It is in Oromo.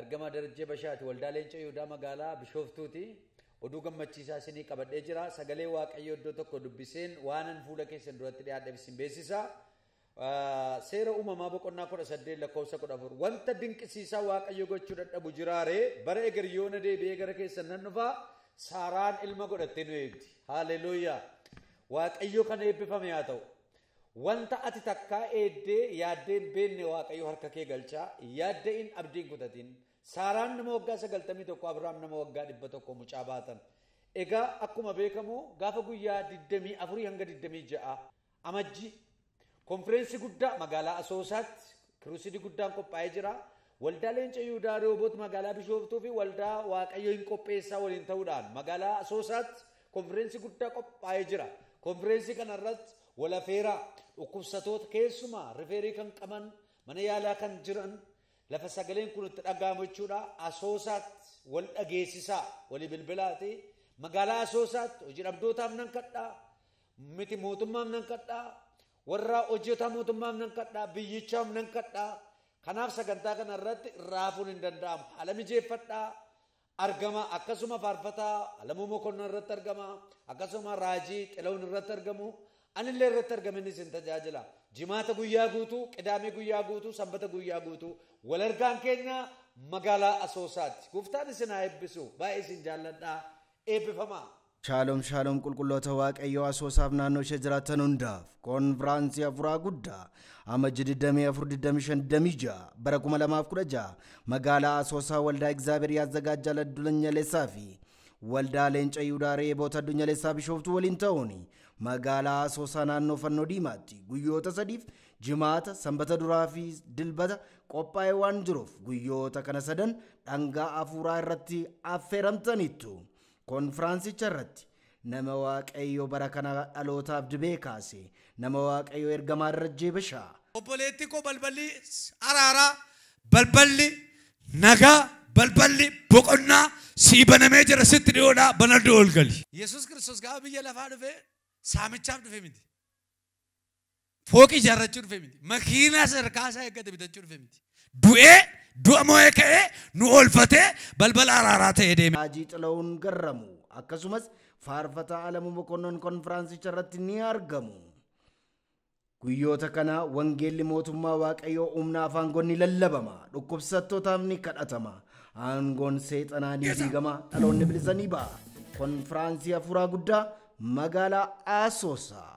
Ergamaa Darajjee Bashaati Waldaa Leenca Yihudaa Magaalaa Bishooftuuti. Oduu gammachiisaa isinii qabadhee jira. Sagalee Waaqayyoo iddoo tokko dubbiseen waanan fuula keessan duratti dhiyaadheef isin beeksisa. Seera uumamaa boqonnaa kudha saddeet lakkoofsa kudha afur. Wanta dinqisiisaa Waaqayyo gochuu dadhabu jiraaree bara eger yoona deebi'ee gara keessan nan dhufa Saaraan ilma godhattee nu eegdi. Haaleluuyaa! Waaqayyo kan eebbifame haa ta'u. Wanta ati takkaa eeddee yaaddee hin beenne Waaqayyo harka kee galcha, hin yaadda'in, abdii hin kutatin. Saaraan nama waggaa 91, Abrahaam nama waggaa 100 mucaa baatan. Egaa akkuma beekamu gaafa guyyaa 24 hanga 26 Amajjii konfireensi guddaa magaalaa Asoosaatti Kiruusidi guddaan qophaa'ee jira. Waldaa Leenca Yihudaa Rihooboot magaalaa Bishooftuu fi waldaa Waaqayyo hin qopheessaa waliin ta'uudhaan magaalaa Asoosaatti konfireensi guddaa qophaa'ee jira. Konfireensi kanarratti walafeeraa dhukkubsatoota keessumaa rifeerii kan qaban mana yaalaa kan jiran lafa sagaleen kun itti dhaga'amu jechuudha. Asoosaatti wal dhageessisaa walii bilbilaati. Magaalaa Asoosaatti hojii dhabdootaaf nan kadhaa miti mootummaaf nan kadhaa Warraa hojjetaa mootummaaf nan kadhaa, biyyichaaf nan kadhaa. Kanaaf sagantaa kana irratti raafuun hin danda'amu. Haala mijeeffadhaa argama akkasuma faarfataa Alamuu Mokonnon irratti argama akkasuma Raajii Xilawun irratti argamu anillee irratti argamin isin tajaajila. Jimaata guyyaa guutuu, qidaamee guyyaa guutuu, sanbata guyyaa guutuu wal argaan keenya magaalaa Asoosaatti. Gooftaan isin haa eebbisu. Baay'ee isin jaalladhaa. Eebbifamaa. Shaalom Shaalom qulqulloota waaqayyoo asoosaaf naannoo ishee jiraattan hundaaf koonfiraansii hafuuraa guddaa amajji 24-25 bara 2016 magaalaa asoosaa waldaa egzaabeer yaazagaajjaa addunyaleessaa fi waldaa leenca yihudaa reeboota addunyaleessaa bishooftuu waliin ta'uun magaalaa asoosaa naannoo fannoo diimaatti guyyoota sadiif jimaata sanbata duraa fi dilbata qophaa'ee waan jiruuf guyyoota kana sadan dhangaa hafuuraa irratti affeeramtaniittu. Konfiraansicha irratti nama Waaqayyo bara kana dhalootaaf dibee kaase, nama Waaqayyo Ergamaa Darajjee Bashaa. Obboleettii koo balballi araaraa, balballi nagaa, balballi boqonnaa sii banamee jira, sitti dhi'oodhaa, banadhuu ol gali. Yesuus Kiristoos gaafa biyya lafaa dhufe saamichaaf dhufe miti. fooqii ijaarrachuu dhufe miti. Makiinaa sadarkaa isaa eeggate bitachuu dhufe miti. Du'ee du'a moo'ee ka'ee nu oolfatee balbala araaraa ta'ee deeme. Haajii Xilawuun Garramu akkasumas faarfataa Alamuu Mokonnon konfiraansicha irratti ni argamu. Guyyoota kana wangeelli mootummaa Waaqayyoo humna afaangoon ni lallabama, dhukkubsattootaaf ni kadhatama, aangoon seexanaa ni diigama, dhaloonni bilisa ni ba'a. Konfiraansii hafuuraa guddaa magaalaa Asoosaa.